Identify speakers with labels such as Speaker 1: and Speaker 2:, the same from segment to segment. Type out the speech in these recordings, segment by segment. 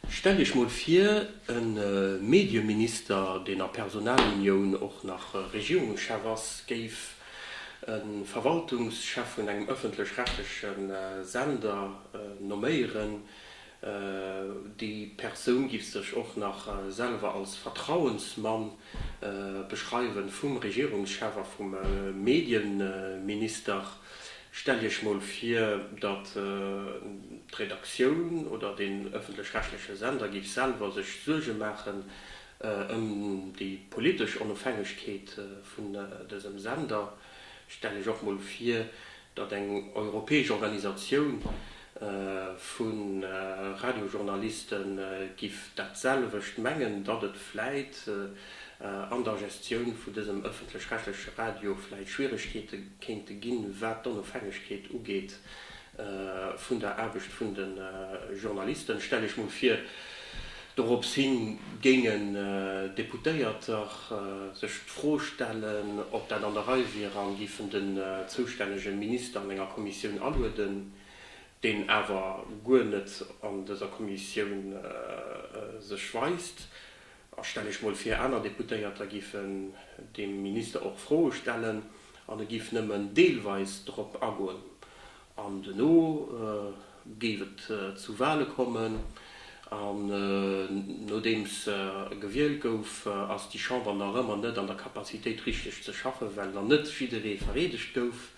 Speaker 1: Stellt Iech mol vir, e Medieminister, deen a Personalunioun och nach Regierungschef ass, géif e Verwaltungschef vun engem ëffentlech-rechtleche Sender nomméieren. Déi Persoun giff sech och nach selwer als Vertrauensmann Beschreiwen vum Regierungschef a vum Medienminister, Stellt Iech mol vir, datt d'Redaktioun oder den ëffentlech-rechtleche Sender géif selwer sech Suerge maachen ëm déi politesch Onofhängegkeet vun dësem Sender. Stellt Iech och mol vir, datt eng europäesch Organisatioun vu Radiojournaliste giff dat selwecht mengen, datt et vläit an der Gestioun vun dësem ëffentlech-rechtleche Radio vläit Schwieregkeete kéinte ginn, wat d'Onofhängegkeet ugeet vun der Aarbecht vun de Journalisten, stell ech mol vir. Dorops hin géingen Deputéierter sech d'Fro stellen, ob dat an der Rei wier an géifen den zoustännege Minister an enger Kommissioun alueden, deen awer guer net an dëser Kommissioun sech weist. A stell iech mol vir, aner Deputéierter géifen deem Minister och Froe stellen an e géif nëmmen deelweis drop agoen. An duerno géif et zu Wale kommen. An nodeems gewielt gouf, ass déi Chamber nach ëmmer net an der Capacitéit richteg ze schaffen, well nach net jidderee vereedegt gouf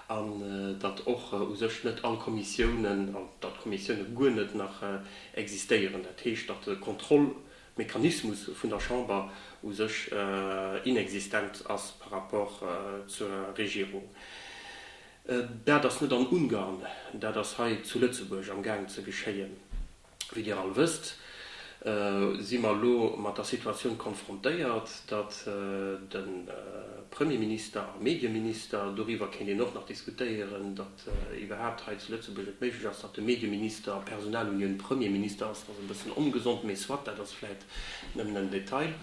Speaker 1: an datt och u sech net all Kommissiounen, an datt d'Kommissiounen guer net nach existéieren. Dat heescht, datt de Kontrollmechanismus vun der Chamber u sech inexistent ass par rapport zur Regierung. Dat ass net an Ungarn, dat ass hei zu Lëtzebuerg am Gaang ze geschéien. Wéi Dir all wësst, si mer elo mat der Situatioun konfrontéiert, datt de Premierminister a Medieminister, doriwwer kéint een och nach diskutéieren, datt iwwerhaapt hei zu Lëtzebuerg et méiglech ass, datt de Medieminister Personalunioun Premierminister ass, dat ass e bëssen ongesond, mee soit, dat ass vläit Nëmmen en Detail,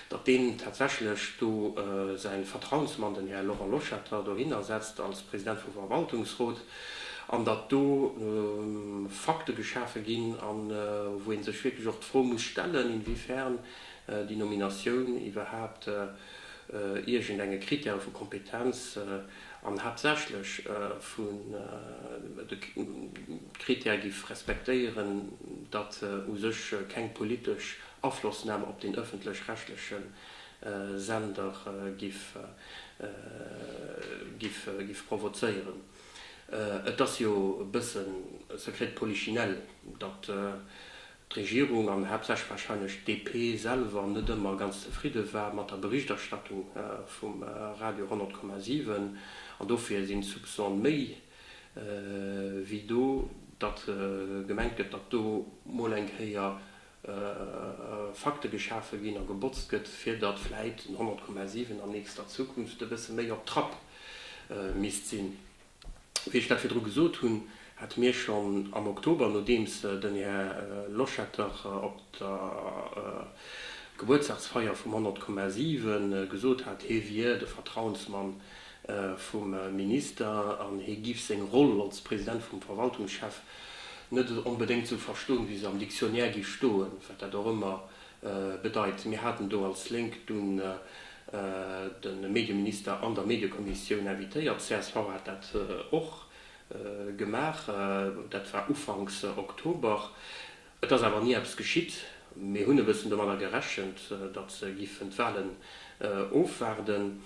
Speaker 1: datt deen tatsächlech do säin Vertrauensmann, den Här Laurent Loschetter, dohinner setzt als President vum Verwaltungsrot, an datt do Fakte geschafe ginn, a wou ee sech wierklech och d'Fro muss stellen, inwiefern déi Nominatioun iwwerhaapt iergendenge Krittäre vu Kompetenz, an haaptsächlech vun de Critère giff respektéieren, datt u sech keng politesch Aflossnam op den ëffentlech-rechtleche Sender giff provozéieren. Et ass jo e bëssen secret de polichinelle, datt d'Regierung an haaptsächlech warscheinlech d'DP selwer net ëmmer ganz zefridde war mat der Berichterstattung vum Radio 100,7 an dofir sinn d'Soupçone méi wéi do, datt gemengt gëtt, datt do mol eng Kéier Fakte geschafe ginn a gebotzt gëtt, fir datt vläit den 100,7 an nächster Zukunft e bësse méi op Trapp misst sinn. Wéi ech dat virdru gesot hunn, hate mir schonn am Oktober, nodeems den Här Loschetter op der Gebuertsdagsfeier vum 100,7 gesot hat, hie wier de Vertrauensmann vum Minister an hie giff seng Roll als President vum Verwaltungschef net onbedéngt esou verstoen, wéi se am Dictionnaire giff stoen, wat dat och ëmmer Bedeit, mir haten do als Lénk dunn de Medieminister an der Mediekommissioun invitéiert. Csv hat dat och gemaach. Dat war ufanks Oktober. Et ass awer ni eppes geschitt. Mir hunn e bëssen domadder gerechent, datt se giffen d'Wahlen ofwaarden.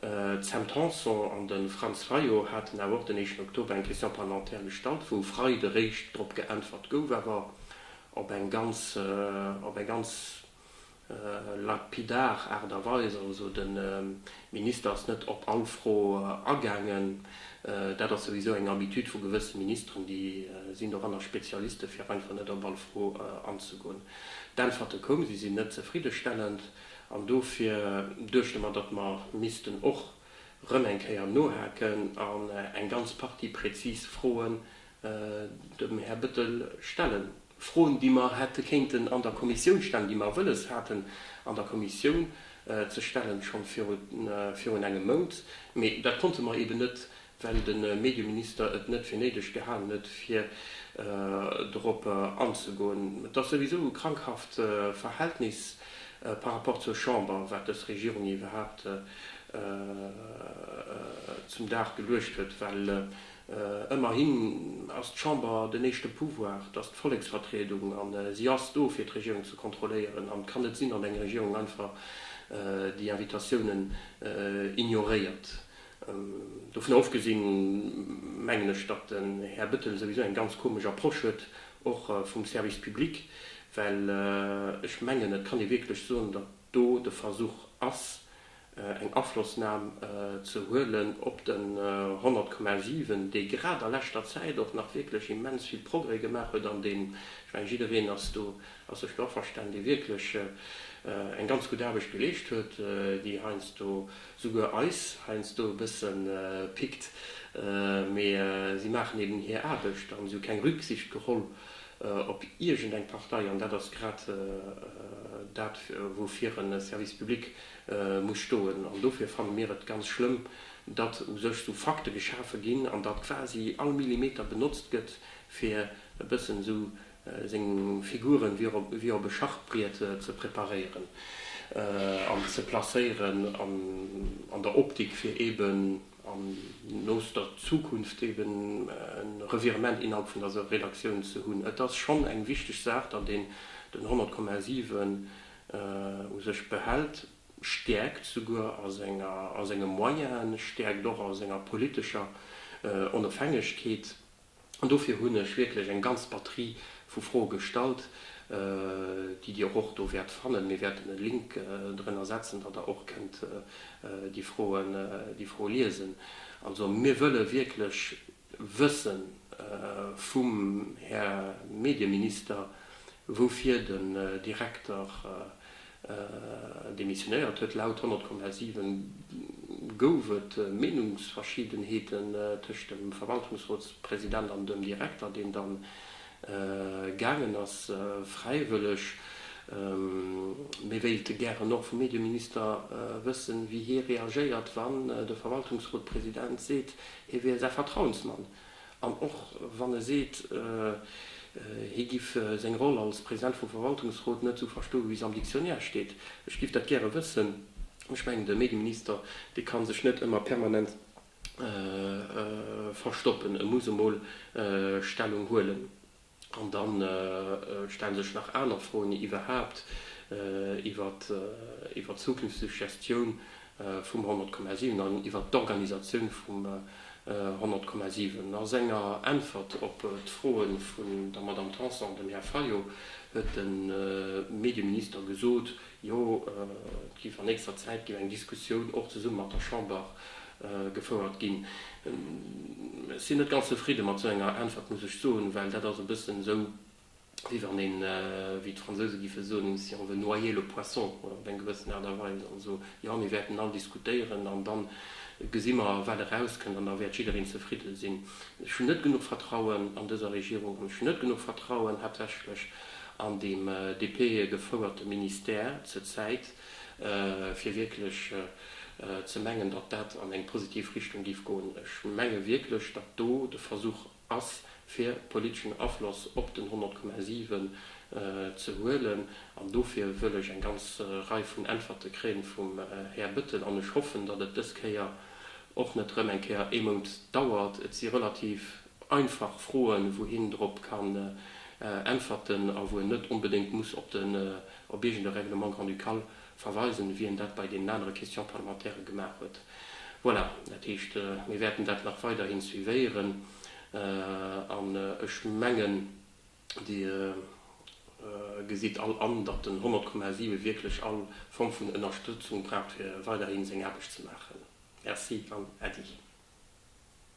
Speaker 1: D'Sam Tanson an de Franz Fayot haten awer och den éischten Oktober eng Question parlementaire gestallt, wou Freides eréischt drop geäntwert gouf. Awer op eng ganz, op eng ganz lapidar Aart a Weis. Also de Minister ass net op all Fro agaangen. Dat ass souwisou eng Habitude vu gewësse Ministeren, déi sinn doranner Spezialisten, fir einfach net op all Fro anzegoen. D'Äntwerte koumen, si sinn net zefriddestellend an dofir duechte mer, datt mer missten och erëm eng Kéier nohaken an eng ganz Partie präzis Froen dem Här Bettel stellen, Froen, déi mer hätte kéinten an der Kommissioun stellen, déi mer wëlles haten an der Kommissioun ze stellen, scho virun engem Mount, mä dat konnte mer eeben net, well de Medieminister et net fir néideg gehalen huet, fir dorop anzegoen. Et ass souwisou e krankhaft Verhältnis par rapport zur Chamber, wat dës Regierung iwwerhaupt zum Dag geluecht huet, well Ëmmerhin ass d'Chamber den éischte Pouvoir, dass d'Volleksvertriedung, an si ass do fir d'Regierung ze kontrolléieren, an et kann net sinn, datt eng Regierung einfach déi Invitatiounen ignoréiert. Dovunner ofgesinn, mengen ech, datt den Här Bettel souwisou eng ganz komesch Approche huet, och vum Service public, well ech mengen, et kann ee wierklech soen, datt do de Versuch ass, eng Aflossnam ze huelen op den 100,7, dee grad a leschter Zäit och nach wierklech immens vill Progrès gemaach huet an deen, ech mengen, jiddereen ass do, ass sech do averstanen, dee wierklech eng ganz gutt Aarbecht geleescht huet, déi heiansdo souguer eis heiansdo e bësse pickt, mee si maachen eben hir Aarbecht an si hu keng Rücksicht geholl op iergendeng Partei an dat ass grad dat, woufir e Service public. muss stoen. An dofir fanne mir et ganz schlëmm, datt u sech esou Fakte geschafe ginn an datt quasi all Millimeter benotzt gëtt, fir e bëssen esou seng Figuren wéi op e Schachbriet ze preparéieren an ze placéieren an der Optik, fir eeben an nooster Zukunft eeben e Revirement innerhalb vun der Redaktioun ze hunn. Et ass schonn eng wichteg Saach, datt een den 100,7 u sech behält, stäerkt souguer a senge Moyenen, stäerkt och a senger politescher Onofhängegkeet. An dofir hunn ech wierklech eng ganz Batterie vu Froe gestallt, déi Dir och do wäert fannen. Mir wäerten e Link drënner setzen, datt Der och kënnt déi Froe liesen. Also mir wëlle wierklech Wëssen vum Här Medieminister, woufir den Direkter demissionéiert huet. Laut 100,7 gouf et Meenungsverschiedenheeten tëscht dem Verwaltungsrotspresident an dem Direkter, deen dann gaangen ass, fräiwëlleg. Mir wéilte gären och vum Medieminister wëssen, wéi hie reagéiert, wann de Verwaltungsrotpresident seet, Hie wier säi Vertrauensmann an och wann e seet, hie giff seng Roll als President vum Verwaltungsrot net esou verstoe wéi se am Dictionnaire steet, ech giff dat gäre wëssen. Ech mengen de Medieminister, dee ka sech net ëmmer permanent verstoppen, e muss emol Stellung huelen. An dann stellen sech nach aner Froen iwwerhaapt iwwer d'zukünfteg Gestioun vum 100,7 an iwwer d'Organisatioun vum 100,7. A senger Äntwert op d'Froe vun der Madame Tanson an dem Här Fayot huet de Medieminister gesot, jo et géif an nächster Zäit géif eng Diskussioun och zesumme mat der Chamber gefouert ginn. Ech sinn net ganz zefridde mat esou enger Äntwert, muss ech soen, well dat ass e bëssen esou, wéi wann een, wéi d'Fransouse giffe soen, si on veut noyer le poisson, oder op eng gewëssen Aart a Weis. Also, jo, mir wäerten all diskutéieren an da gesi mer, wat erauskënnt, an da wäert jiddereen zefridde sinn. Ech hunn net genuch Vertrauen an dëser Regierung an ech hunn net genuch Vertrauen haaptsächlech an deem DP-gefouerte Ministère zur Zäit. fir wierklech ze mengen, datt dat an eng positiv Richtung géif goen. Ech menge wierklech, datt do de Versuch ass, fir politeschen Afloss op den 100,7 ze huelen. An dofir wëll ech eng ganz Rei vun Äntwerte kréien vum Här Bettel. An ech hoffen, datt et dës Kéier och net erëm eng Kéier ee Mount dauert. Et si relativ Einfach froen, wou hien drop kann äntwerten a wou en net onbedéngt muss op den op iergende Règlement grand-ducal verweisen, wéi en dat bei deenen anere Question-parlementaire gemaach huet. Voilà, dat heescht, mir wäerten dat nach weiderhin suivéieren an ech mengen, Dir gesitt all an, datt den 100,7 wierklech all Form vun Ënnerstëtzung braucht, fir weiderhin seng Aarbecht ze maachen. Merci an Äddi.